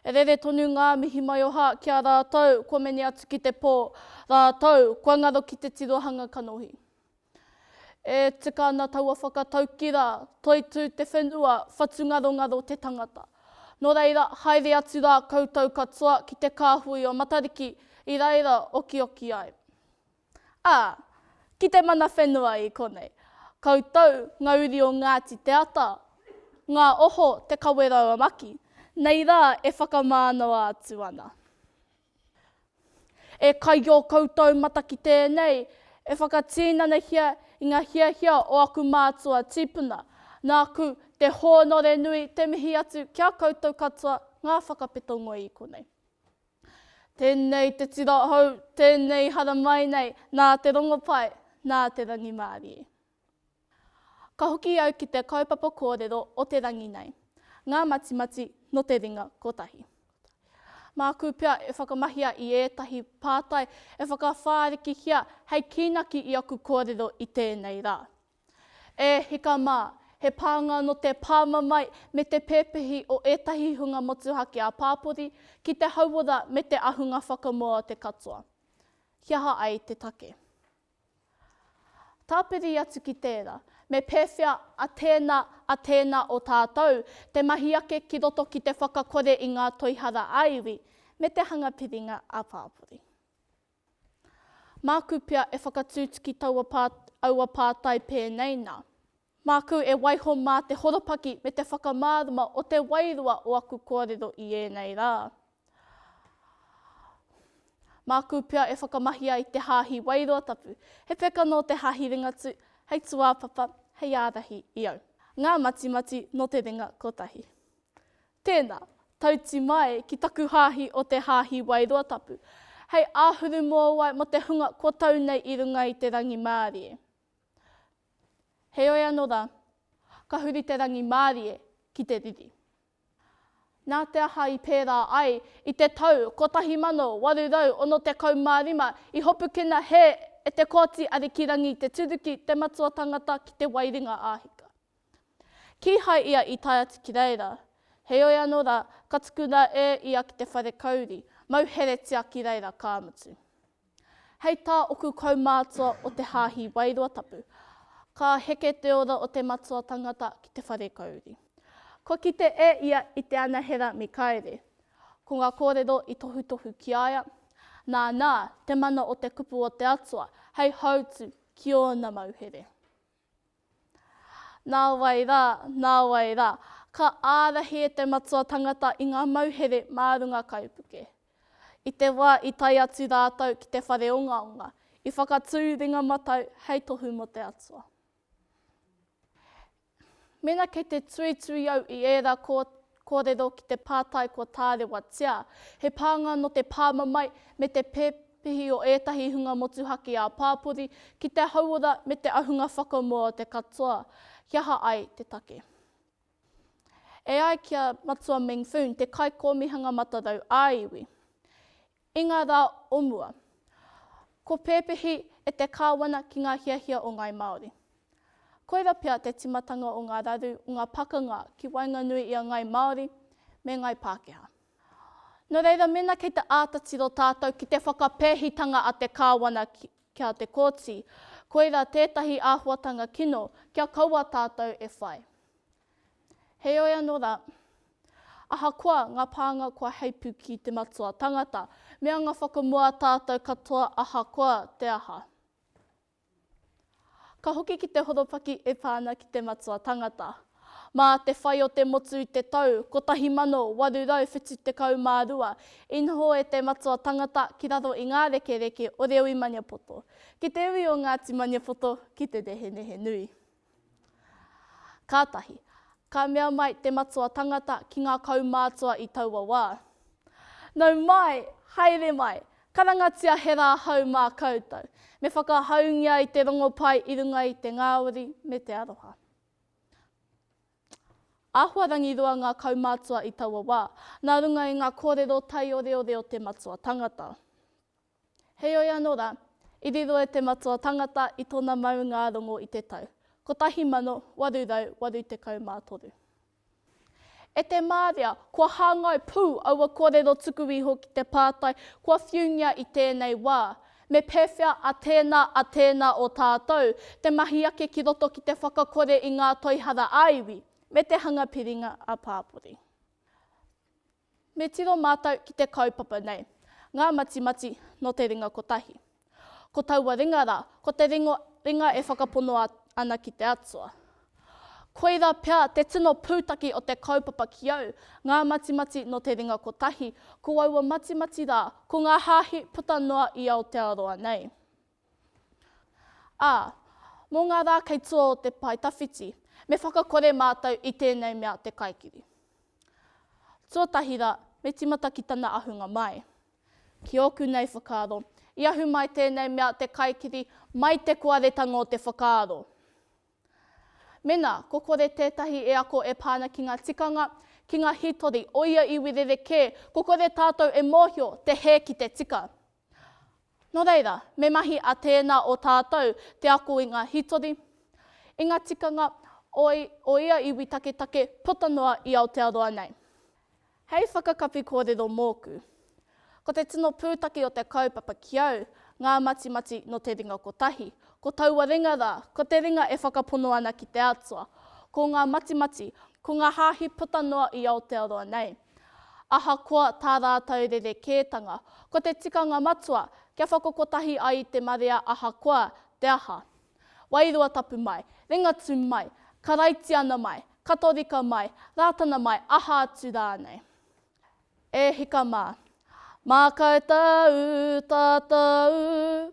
E rere tonu ngā mihi maioha ki a rātou kua mene atu ki te pō, rātou kua ngaro ki te tirohanga kanohi. E tika ana taua whakatauki rā, Toitū te whenua, whatungarongaro te tangata. Nō reira, haere atu rā koutou katoa ki te kāhui o Matariki i reira okioki ai. Ā, ki te mana whenua i konei, koutou ngā uri o Ngāti Te Ata, ngā oho Te Kawerauamaki, nei rā e whakamānawa atu ana. E kai i ō koutou mata ki tēnei, e whakatīnanahia i ngā hiahia o aku mātua tīpuna, nāku te hōnore nui te mihi atu ki a koutou katoa ngā whakapeto ngoi i konei. Tēnei te tira hou, tēnei haramai nei, nā te rongopai, nā te rangimārie. Ka hoki au ki te kaupapa kōrero o te rangi nei, ngā matimati nō te ringa kotahi. Māku pea e whakamahia i ētahi pātai e whakawhārikihia hei kīnaki i aku kōrero i tēnei rā. E hika mā, he pānga nō te pāmamae me te pēpehi o ētahi hunga motuhake ā-pāpori ki te hauora me te ahunga whakamoa o te katoa. He aha ai te take? Tāpiri atu ki tērā, me pēwhea a tēnā, a tēnā o tātou te mahi ake ki roto ki te whakakore i ngā toihara ā-iwi me te hanga piringa ā-pāpori? Māku pea e whakatūtuki taua pā, aua pātai pēnei nā. Māku e waiho mā te horopaki me te whakamārama o te wairua o aku kōrero i ēnei rā. Māku pea e whakamahi ai te Hāhi Wairoa Tapu, he peka nō te Hāhi Ringatū, hei tūāpapa, hei ārahi i au. Ngā matimati nō te ringa kotahi. Tēnā, tauti mai ki taku hāhi o te Hāhi Wairoa Tapu, hei āhuru mōwai mō te hunga kua tau nei i runga i te rangimārie. Heoi anō rā, ka huri te rangimārie ki te riri. Nā te aha i pērā ai i te tau 1865 i hopukina hē e Te Kooti Arikirangi Te Turuki te matua tangata ki Te Wairinga Āhika? Kīhai ia i tae atu ki reira. Heoi anō rā, ka tukuna e ia ki te whare kauri, mau heretia ki reira, ka mutu. Hei tā oku kaumātua o te Hāhi Wairua Tapu, ka heke te ora o te matua tangata ki te whare kauri. Kua kite e ia i te anahera me kaere. Ko ngā kōrero i tohutohu ki a ia, nā, nā, te mana o te kupu o te Atua hei hautū ki ōna mauhere. Nāwai rā, nāwai rā, ka ārahi e te matua tangata i ngā mauhere mā runga kaipuke. I te wā i tae atu rātou ki te whare ongaonga, i whakatū ringa matau hei tohu mō te Atua. Mēnā kei te tuitui au i ērā Kōrero ki te pātai kua tārewatia he pānga nō te pāmamae me te pepehi o ētahi hunga motuhake ā-pāpori ki te hauora me te ahunga whakamua o te katoa, he aha ai te take. E ai ki a Matua Meng Foon, te Kaikōmihanga Matarau ā-Iwi, I ngā rā o mua, ko pēpehi e te kāwana ki ngā hiahia o ngāi Māori. Koira pea te timatanga o ngā raru o ngā pakanga ki waenganui i a ngāi Māori me ngāi Pākehā. Nō reira mēnā kei te āta tiro tātou ki te whakapēhitanga a te kāwana ki a te kōti, koira tētahi āhuatanga kino kia kaua tātou e whai. Heoi anō rā, ahakoa ngā pānga kua heipu ki te matua tangata, me anga whakamua tātou katoa ahakoa te aha. Ka hoki ki te horopaki e pā ana ki te matua tangata. Mā te whai o te motu i te tau 1872 i noho e te matua tangata ki raro i ngā rekereke o Reo i Maniapoto, ki te ui o Ngāti Maniapoto ki te Rehenehenui. Kātahi, ka mea mai te matua tangata ki ngā kaumātua i taua wā, Nau mai, haere mai, karangatia he rā hou mā koutou, me whakahaungia i te rongopai i runga i te ngāwari me te aroha. Āhuarangi roa ngā kaumātua i taua wā, nā runga i ngā kōrero taioreore o te matua tangata. Heoi anō rā, i riro e Te Matua Tangata i tōna maungā rongo i te tau 1883. E te māria, kua hāngai pū aua kōrero tuku iho ki te pātai kua whiungia i tēnei wā, me pēwhea a tēnā, a tēnā o tātou te mahi ake ki roto ki te whakakore i ngā toihara ā-iwi me te hanga piringa ā-pāpori. Me tiro mātou ki te kaupapa nei, Ngā Matimati nō te Ringa Kotahi. Ko taua ringa rā, ko te ringa e whakapono ana ki te Atua. Koirā pea te tino pūtake o te kaupapa ki au, Ngā Matimati nō te Ringa Kotahi, ko aua matimati rā, ko ngā hāhi puta noa i Aotearoa nei. Ā, mō ngā rā kei tua o te pae tawhiti, me whakakore mātou i tēnei mea te kaikiri. Tuatahi rā, me tīmata ki tana ahunga mai. Ki ōku nei whakaaro, i ahu mai tēnei mea te kaikiri mai te koaretanga o te whakaaro. Mēnā ko kore tētahi e ako e pā ana ki ngā tikanga, ki ngā hītori o ia iwi rerekē, ko kore tātou e mōhio te hē ki te tika. Nō reira, me mahi a tēnā o tātou te ako i ngā hītori, i ngā tikanga o o ia iwi taketake puta noa i Aotearoa nei. Hei whakakapi kōrero mōku, ko te tino pūtake o te kaupapa ki au ngā matimati nō te ringa kotahi, ko taua ringa rā, ko te ringa e whakapono ana ki te Atua, ko ngā matimati, ko ngā hāhi puta noa i Aotearoa nei. Ahakoa tā rātou rerekētanga, ko te tikanga matua kia whakakotahi ai te marea ahakoa te aha. Wairua tapu mai, Ringatū mai, Karaitiana mai, Katorika mai, Rātana mai, aha atu rānei. E hika mā. Mākau tāu, tātou,